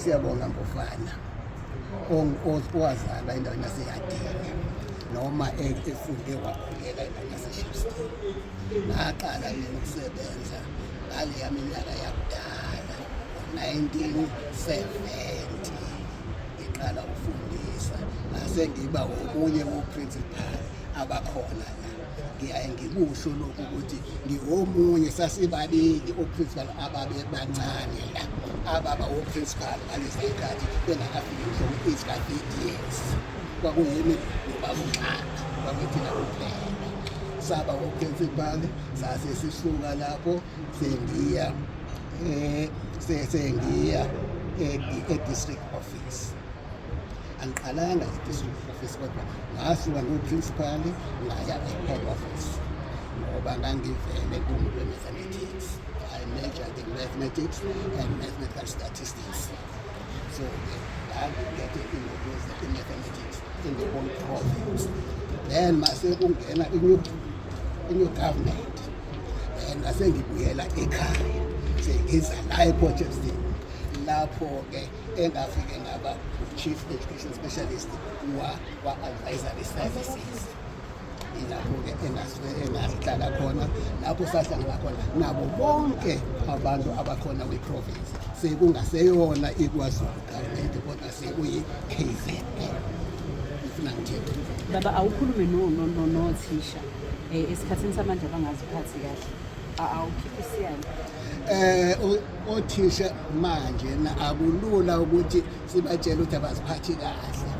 Siyabonga Mbofana owazalwa endaweni yaseyadini noma e, efunde wakhulela endaweni yaseshipston ngaqala mina ukusebenza ngaleya minyaka yakudala 1970 ngiqala ukufundisa ngase ngiba omunye woprincipal abakhona la ngiyaye ngikusho lokhu ukuthi ngiwomunye sasibabili oprincipal ababebancane la ababa oprincipal ngalesi khathi bengakafiki ngisho ku-eight years kwakuyimi nobakunxaka kwakuyithina kuphela saba oprincipal sase sisuka lapho sengiya um sengiya e-district office angiqalanga i-district office kodwa ngasuka ngiwuprincipali ngaya e-head office ngoba ngangivele kumuntu we-mathematics i majored in mathematics and mathematical statistics so ke ngangingeke ingokuza i-mathematics ingekon province then mase kungena i-new i-new government then ngase ngibuyela ekhaya sengiza la e-port of lapho-ke engafike ngaba chief education specialist wa wa advisory services ilapho-ke engasuke engahlala khona lapho sahlangana khona nabo bonke abantu abakhona kwi-province sekungaseyona ikwazulu government kodwa sekuyi-kz ngifuna ngithini baba awukhulume nothisha um esikhathini samanje abangaziphathi kahle awukhiphe isiyalo um Othisha manje akulula ukuthi sibatshele ukuthi abaziphathi kahle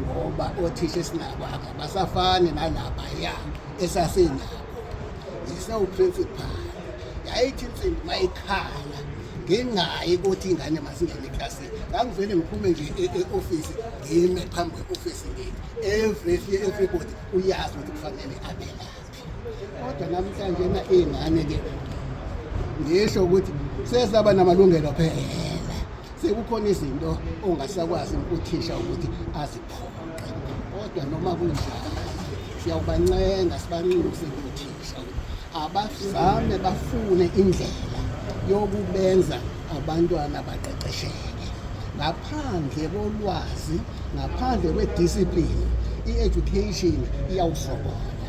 ngoba othisha esinabo abasafani nalapha ya esasinabo ngisewuprincipal yayithi insimbi mayikhala ngingayi ukuthi ingane masingene eklasini ngangivele ngiphume nje e-, e-ofisi ngime phambi kwe-ofisi ngini every everybody uyazi ukuthi kufanele abelaphi kodwa namhlanje na ingane ke ngisho ukuthi sesaba namalungelo phela sekukhona izinto ongasakwazi uthisha ukuthi aziphoqe kodwa noma kunjalo siyawubancenga sibanxuse uthisha abazame bafune indlela yokubenza abantwana baqeqesheke ngaphandle kolwazi ngaphandle kwediscipline i-education iyawusokola